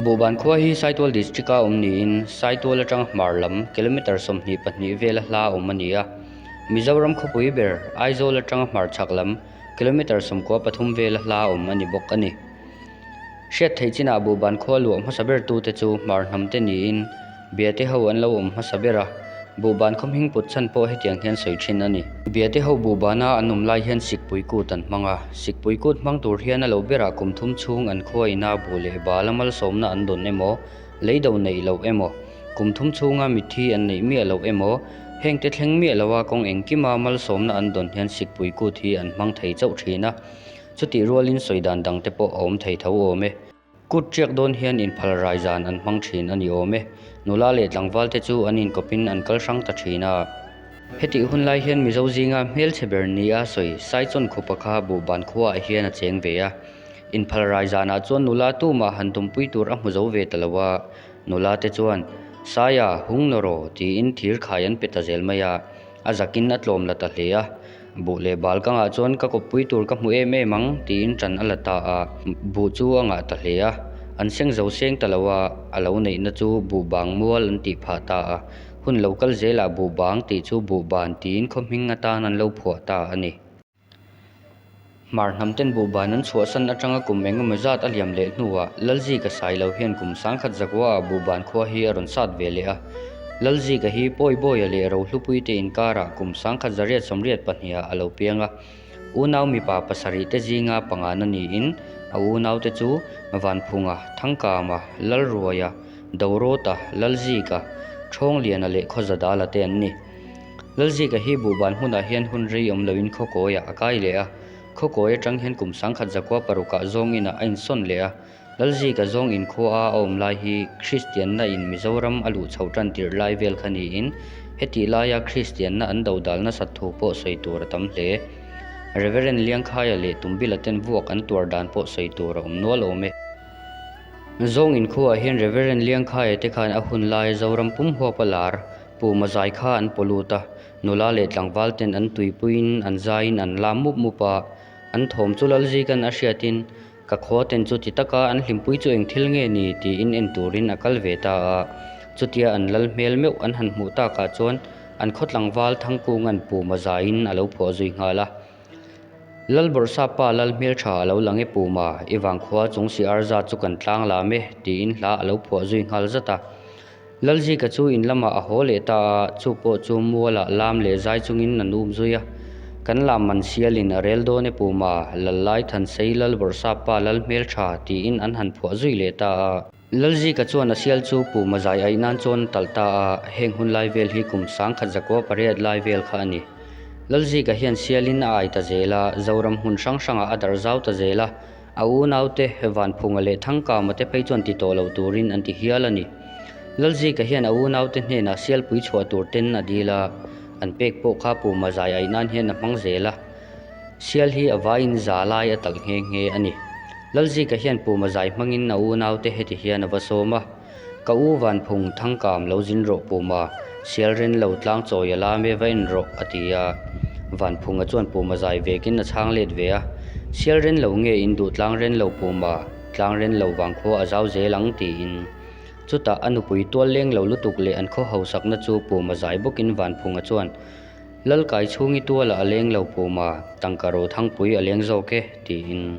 Buban khua hi Saitual District a awm niin Saitual atanga hmar lam kilometre sawmhnih pahnih vel a hla a awm a ni a. Mizoram khawpui ber Aizawl atanga hmar chhak lam kilometre sawmkua pathum vel a hla a awm a ni bawk a ni. Hriat theih chinah buhban khua luah hmasa ber tu te chu hmar hnam te niin Biate ho an lo awm hmasa ber a, buhban khawmhing put chhan pawh hetiang hian sawi thin a ni. Biate ho buhbana an awm lai hian sik puikut an hmang a, sik puikut hmang tur hian a lo berah kum thum chhung an khua ina bu leh bal a malsawmna an dawn emaw, lei do neih loh emaw, kum thum chhunga mitthi an neih miah loh emaw, heng te thleng miah lo a kawng engkima malsawmna an dawn hian sik puikut hi an hmang thei chauh thin a. Chutih rualin sawi dan dangte pawh a awm thei tho awm e. Kut ṭiak dawn hian inphal rai zan an hmang ṭhin a ni awm e. Nula leh tlangvalte chu an inkawpin an kal hrang ta ṭhin a. Hetih hun lai hian Mizo zinga hmelchhe ber ni a sawi saichawn khupa kha buhban khuaah hian a cheng ve a. Inphal rai zanah chuan nula tumah han tumpui tur a hmu zo ve ta lo a. Nula te chuan, Saia, hung nawr aw, tiin thir khai an pe ta zel mai a. A zakin a tlawm la ta hle a. Buh leh bal ka ngah chuan ka kawppui tur ka hmu em em ang tiin ṭan a la ta a, buh chu a ngah ta hle a, an seng zo seng ta lo a, a lo neihna chu buh bang mual an tih phah ta a, hun lo kal zelah buh bang tih chu buh ban tiin khawhming atan an lo phuah ta a ni. Hmar hnam ten buhban an chhuahsan atanga kum engemaw zat a liam leh hnuah Lalzika sai lo hian kum sang khat Zakuaa buhban khua hi a rawn sat ve leh a. Lalzika hi pawi bawia leh rohlupui te inkarah kum sang khat zariat sawmriat pahniha a lo piang a. Unau mipa pasarih te zinga pangahna niin a unaute chu Vanphunga, Thangkama, Lalruaia, Dorota, Lalzika, Thawng Liana leh Khawzadala te an ni. Lalzika hi buhban hmunah hian hun rei awm loin khawkawiah a kai leh a. Khawkawi atang hian kum sangkhat zakua parukah zawnginah a insawn leh a. Lalzika zawng inkhua a awm lai hi Kristianna in Mizoram a luh chhoh tan tirh lai vel kha niin heti laia Kristianna an dodal nasat thu pawh sawi tur a tam hle. Rev. Liangkhaia leh Tumbila ten vuak an tuar dan pawh sawi tur a awm nual awm e. Zawng inkhuaah hian Rev. Liangkhaia te khan a hun lai Zoram pum huapa lar, Pu Mazai kha an paw lut a, nula leh tlangval ten an tuipuiin an zaiin an la mup mup a, an thawm chu lal zik an a hriatin, Ka khua ten chu ti taka an hlimpui chu eng thil nge ni tiin en turin a kal ve ta a, chutia an lal hmel meuh an han hmuh takah chuan an khaw tlangval thangkunga'n Pu Mazaiin a lo phuah zui nghal a, Lal Bawrhsa pa lal hmel tha a lo lang e Pu Ma, i vang khua chung siar zat chu kan tlang lam e tiin hla a lo phuah zui nghal zat a. Lalzika chu in lamah a haw leh ta a, chu pawh chu muala lam leh zai chungin an up zui a. Kan lam man sialin a rel dawn e puma, Lallai Thansei lal Bawrhsappa lal hmeltha tiin an han phuah zui leh ta a. Lalzika chuan a sial chu puma zai aih nan chuan a talh ta a, heng hun lai vel hi kum sangkhat zakua pariat lai vel kha a ni. Lalzika hian sialin a ai ta zel a, Zoram hmun hrang hrangah a darh zau ta zel a, A unaute Vanphunga leh Thangkama te phei chuan ti tawh lo turin an ti hial a ni. Lalzika hian a unaute hnenah sialpui chhuah tur ten a dil a, an pek pawh kha Puma zai aih nan hian a hmang zel a. Sial hi a va in za lai a tak nghe nghe a ni. Lalzika hian Puma zai hmangin a unaute heti hian a va sawm a. Ka u Vanphung thangkam lo zin rawh Puma, Sialren lo tlang chawi a la me va en rawh a ti a. Vanphunga chuan Puma zai vekin a chhang let ve a, Sialren lo nge in duh tlang ren lo Puma, tlang ren lo vang khua a zau zel ang tiin. Chutah a nupui tual leng lo lutuk leh an khaw hausakna chu Puma zai bawkin Vanphunga chuan, Lalkai chhung i tuala a leng lo Puma, tangka ro thangpui a leng zawk e tiin.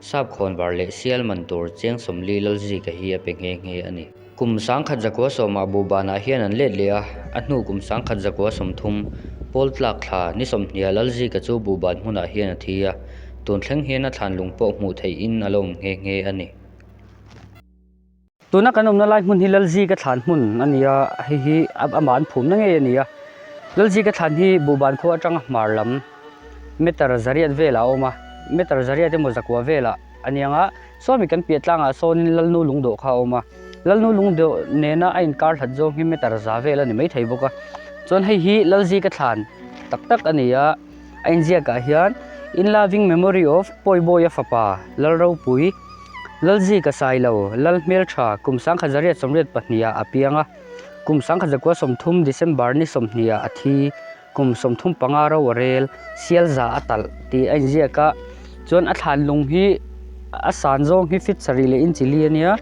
Sapkhawn var leh sial man tur cheng sawmli Lalzika hi a pe nghe nghe a ni. Kum sangkhat zakua sawm a bu banah hian an let leh a, a hnu kum sangkhat zakua sawm thum, Pawl tlak thla, ni sawmhniah Lalzika chu bu ban hmunah hian a thi a, tun thleng hian a thlan lung pawh hmuh theihin a la awm nghe nghe a ni. Tuna kan awmna lai hmun hi Lalzika thlan hmun a ni a, hei hi amah an phumna ngei a ni a. Lalzika thlan hi Buhban khua atanga hmar lam Meter Zariat velah a awm a, Meter Zariat emaw Zakua velah a niang a, Suami kan piah tlangah sawnin Lalnu Lungdawh kha a awm a. Lalnu Lungdawh nena a inkar hlat zawng hi Meter Za vel a ni mai thei bawk a. Chuan hei hi Lalzika thlan tak tak a ni a. A inziakah hian In loving memory of Pawibawiha fapa Lal Ropui, Lalzika Sailo, Lal Hmeltha, kum sangkhat zariat sawmriat pahniha a piang a. Kum sangkhat zakua sawmthum, December, ni sawmhniha a thi. Kum sawmthum panga ro a rel, Sialza a talh, tih a inziak a. Chuan a thlan lung hi a san zawng hi fit sarih leh inchili a nia.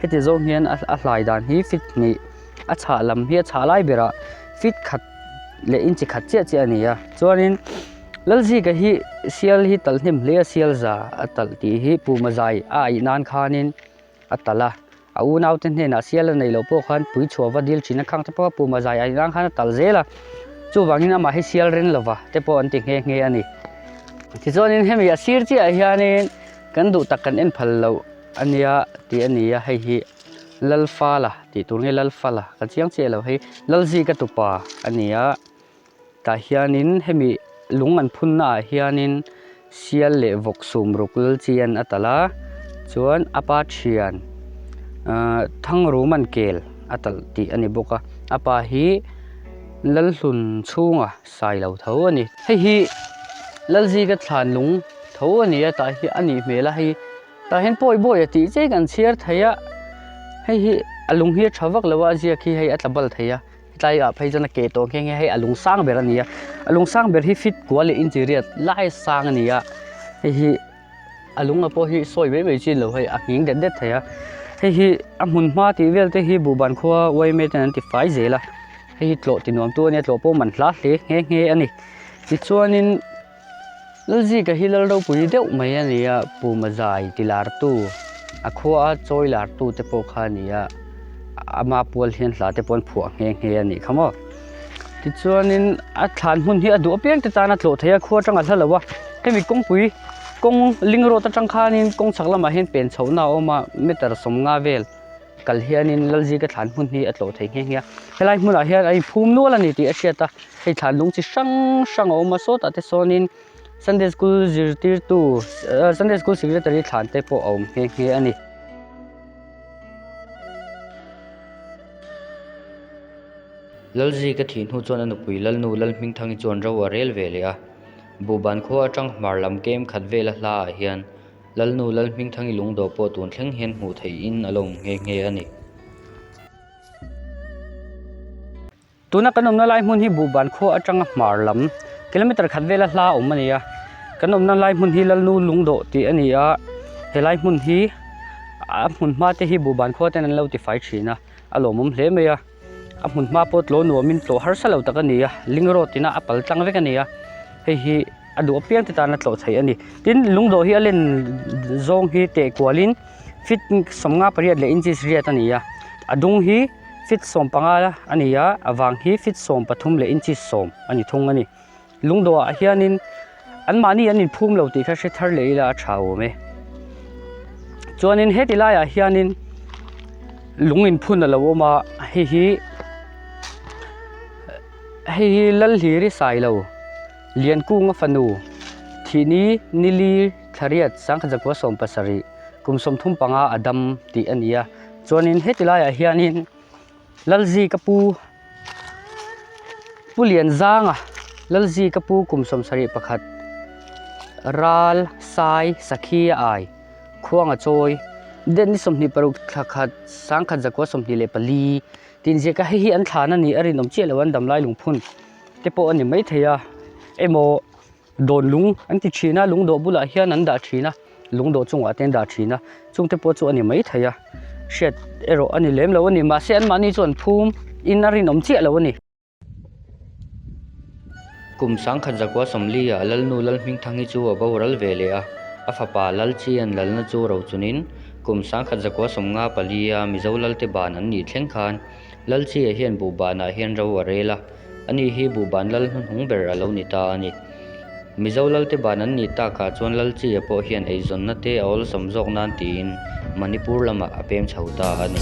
Heti zawng hian a hlai dan hi fit hnih a chhah lam hi a chhah lai berah fit khat. leh inchi khat chiah chiah a ni a chuanin Lalzika hi sial hi tal hnem hle a sialza a tal tih hi Pumazai a aih nan khanin a tal a a unaute hnenah sial a neilo pawh khan tui chhuava dil thin a khang tawh a Pumazai a aih nan khan a tal zel a chuvangin amah hi sial ren lova te pawh an ti nghe nghe a ni tichuanin hemi a sir chiahah hianin kan duh tak kan en phal loh a nia tih a ni a hei hi. Lalfala tih tur nge Lalfala ka chiang chiah lo hi Lalzika tupa a ni a, tah hianin hemi lung an phunnaah hianin Sial leh Vawk sum ruk Lalchian a talh a, chuan a pa thian aah Thangruman kel a talh tih a ni bawk a, a pa hi Lalhlun chhunga sai lo tho a ni. Hei hi Lalzika thlan lung tho a ni a, tah hian a nih hmel a hei-- Tah hian pawi bawi a tih chiai kan chhiar thei a, hei hi a lung hi a tha vak lo a, a ziak hi hei a tla bal thei a, hetlai ah phei chuan a ke tawh ang khian khian hei a lung sang ber a ni a, a lung sang ber hi fit kua leh inchiriat lai a sang a ni a, hei hi a lung a pawh hi sawi mai mai chin lo hei a nghing det det thei a, hei hi a hmun hma tih vel te hi Buhban khua yma ten an ti fai zel a, hei hi tlawh ti nuam tu a nia tlawh pawh man hla hle nghe nghe a ni, tichuan in. Lalzika hi lal ropui deuh mai a ni a, pumazai ti lartu, a khua a chawi lartu te pawh kha a ni a, ama pual hian hla te pawhin phuah nghe nghe a ni kha maw. Tichuanin a thlan hmun hi a duh apiang te tan a tlawh thei a, khua atanga a hla lo a, hemi kawngpui kawng ling road atang khanin kawng chhak lamah hian pen chhohna a awm a, meter sawm nga vel. kal hianin Lalzir ka thlan hmun hi a tlawh thei nghe nghe a, helai hmunah hian a inphum nual a ni tih a hriat a, hei thlan lung chi hrang hrang a awm a, sawtah te sawnin Sunday School zirtirtu ah Sunday School secretary thlan te pawh a awm nghe nghe a ni. Lalzir ka thih hnu chuan a nupui Lalnu Lalhmingthangi chuan ro a rel ve leh a, Buhban khua atang hmar lam kemkhat vela hla ah hian, Lalnu Lalhmingthangi lungdaw pawh tun thleng hian hmuh theih in a lawm nghe nghe a ni. Tuna kan awmna lai hmun hi Buhban khua atanga hmar lam, kilometre khat vela hla awm a ni a. Kan awmna lai hmun hi Lalnu lungdaw tih a ni a, he lai hmun hi a hmun hma te hi Buhban khua ten an lo tifai thin a, a lawmawm hle mai a. a hmun hma pawh tlo nuam in tlawh harsa lo tak a ni a link road in a pal tlang vek a ni a hei hi a duh apiang te tan a tlawh theih a ni tin lungdaw hi a len zawng hi teh kual in feet sawmnga pariat leh inches riat a ni a a dung hi feet sawmpanga a ni a a vang hi feet sawmpathum leh inches sawm a ni thung a ni. Lungdawhah hianin anmahni an inphum lo tih kha hre thar leh ila a tha awm e. Chuanin heti laiah hianin lung inphun a lo awm a, hei hi hei hi Lalhliri Sailo, Liankunga fanu, Thini Nili Thlariat Sangkhajakua Sawm Pasarih, kum sawm thum panga a dam tih a ni a. Chuanin heti laiah hianin. Lalzi ka pu Pu Lian Zanga Lalzi ka pu kum sawm sarih pakhat Ral Sai Sakhi a ai Khuanga chawi Deni sawmhnih paruk thla khat Sangkhat Zakua sawmhnih leh pali Tin zia ka heihi an thlan a ni a rinawm chiah loh a an damlai lungphun te pawh a ni maithei a emaw Dawt lung an ti thin a, lungdawt bulah hian an dah thin a, lungdawt chungah te an dah thin a, chungte pawh chu a ni mai thei a, hriat erawh a ni lem lo a ni, mahse anmahni chuan phum in a rinawm chiah lo a ni. Kum sangkhat zakua Sawmliah Lalnu Lalhmingthangi chu a bo ral ve leh a, a fapa Lalchian Lalna chu rochunin kum sangkhat zakua sawmnga palia Mizo Lalte ban an nih thleng khan, Lal chhia hian buhbanah hian ro a rel a, a ni hi buhban lal hnuhnung ber a lo ni ta a ni. Mizo lalte ban an nih takah chuan lal chhia pawh hian eizawnna te a awlsam zawk nan tiin Manipur lamah a pem chho ta a ni.